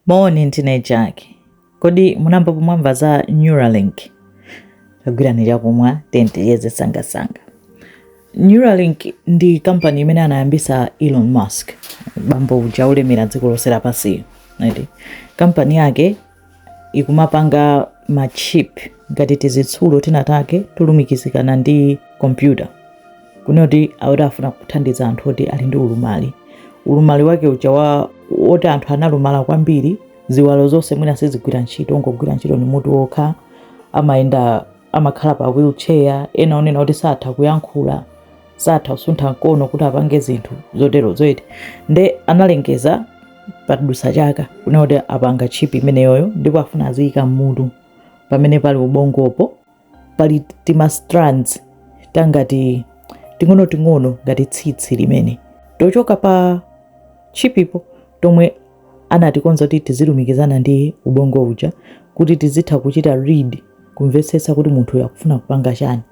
Moni, ndine Jack. Kodi munayamba mwamvapo za Neuralink? Kagwireni chakumwa then tiyese sangasanga. Neuralink ndi kampani imene anayambisa Elon Musk, bambo uja wolemera dziko lonse lapansiyo. Kampani yake ikumapanga machip ngati tizitsulo tinatake tolumikizikana ndi kompyuta. kunena kuti akuti afuna kuthandiza anthu oti ali ndi ulumali ulumali wake uja wa woti anthu analumala kwambiri ziwalo zonse mwina sizigwira ntchito ngogwira ntchito ni mutu wokha amayenda amakhala pa wheelchair ena onena kuti satha kuyankhula satha kusuntha mkono kuti apange zinthu zoterozo eti nde analengeza padusa chaka kunena kuti apanga tchipi imeneyoyo ndipo afuna aziyika mmutu pamene pali ubongopo pali tima strands tangati ting'onoting'ono ngati tsitsi limene tochoka pa chipipo tomwe anatikonza kuti tizilumikizana ndi ubongo uja kuti tizitha kuchita read kumvetsetsa kuti munthu uyu akufuna kupanga chani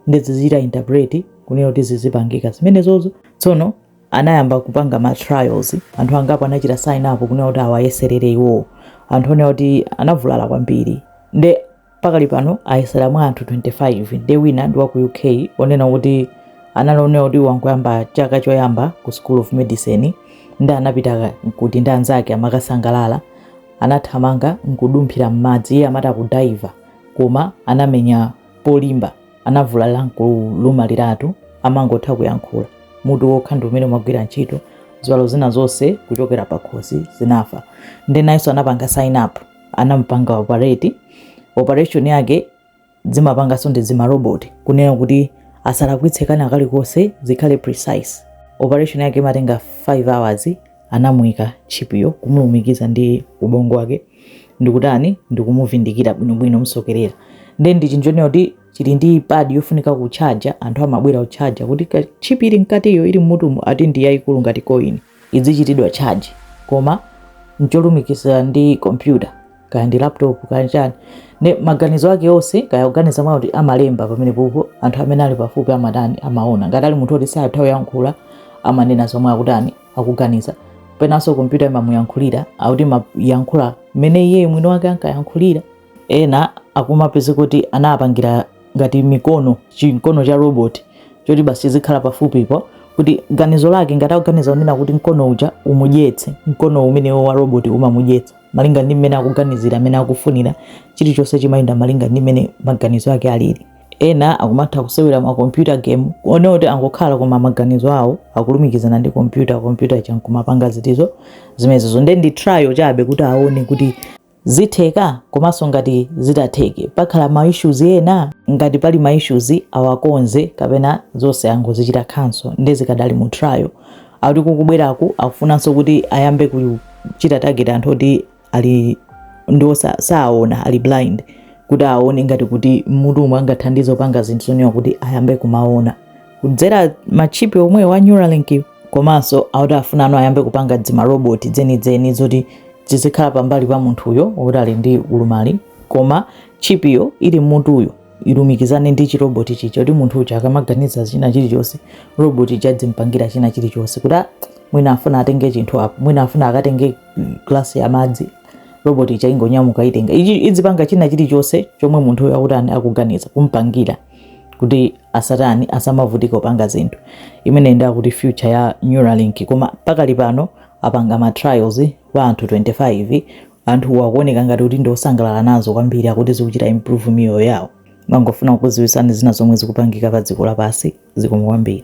nde zizichita interpret kunena kuti zizipangika zimenezozo tsono anayamba kupanga ma trials anthu angapo anachita sign up kunena kuti awayeserere iwowo anthu onena kuti anavulala kwambiri nde Pakali pano ayesera mwa anthu 25 nde wina ndi wa ku UK onena kuti anali onena kuti wangoyamba chaka choyamba ku School of Medicine nde anapita kuti ndi anzake amakasangalala anathamanga nkudumphira m'madzi iye amati akudaiva koma anamenya polimba anavulala nkulumaliratu amangotha kuyankhula mutu wokha ndi umene umagwira ntchito ziwalo zina zonse kuchokera pakhosi zinafa nde nayenso anapanga sign up anamupanga operate operation yake zimapanganso ndi zimaroboti kunena kuti asalakwitse kana kalikonse zikhale precise operation yake imatenga 5 hours anamuyika chipiyo kumulumikiza ndi ubongo wake ndikutani ndikumuvindikira bwinobwino kumsokerera nde ndi chinthu chonena kuti chili ndi pad yofunika kutchaja anthu amabwera kutchaja kuti chipi ili mkatiyo ili mmutumu ati ndi yayikulu ngati koini idzichitidwa charge koma ncholumikizira ndi kompyuta kaya ndi laptop kaya chani nde maganizo ake onse kaya akuganiza mwakuti amalemba pamenepopo anthu amene ali pafupi amatani amaona ngati ali munthu oti satha kuyankhula amanena zomwe akutani akuganiza penanso kompyuta imamuyankhulira akuti imayankhula mmene iye mwini wake ankayankhulira ena akumapeza kuti anapangira ngati mikono chimkono cha robot choti basi chizikhala pafupipo kuti ganizo lake ngati akuganiza kunena kuti mkono uja umudyetse mkono umenewo wa robot umamudyetsa malinga ndi mmene akuganizira mmene akufunira chilichonse chimayenda malinga ndi mmene maganizo ake alili ena akumatha kusewera ma computer game kunena kuti angokhala koma maganizo awo akulumikizana ndi computer computer ija nkumapanga zinthuzo zimenezo nde ndi trial chabe kuti aone kuti zitheka komanso ngati zitatheke pakhala ma issues ena ngati pali ma issues awakonze kapena zonse angozichita cancel nde zikadali mu trial akuti kukubweraku akufunanso kuti ayambe kuchita target anthu oti ali ndi osa- saona ali blind kuti aone ngati kuti mutu umwe angathandize kupanga zinthu zonewa kuti ayambe kumaona kudzera machipi omwewa a neuralink komanso akuti afunano ayambe kupanga dzimaroboti dzenidzeni zoti zizikhala pambali pa munthuyo woti ali ndi ulumali koma chipiyo ili mmutuyo ilumikizane ndi chiroboti chija kuti munthu uja akamaganiza china chilichonse roboti ija idzimpangira china chilichonse kuti ah, mwina afuna atenge chinthu apo mwina afuna akatenge glasi ya madzi roboti ija ingonyamuka itenga idzipanga china chilichonse chomwe munthuyo akuti akuganiza kumpangira kuti asatani asamavutika kupanga zinthu imene ndi akuti future ya Neuralink koma pakali pano apanga ma trials kwa anthu 25 anthuwa akuoneka ngati kuti ndiosangalala nazo kwambiri akuti zikuchita improve miyoyo yawo mangofuna kukuziwisani zina zomwe zikupangika pa dziko lapansi zikomo kwambiri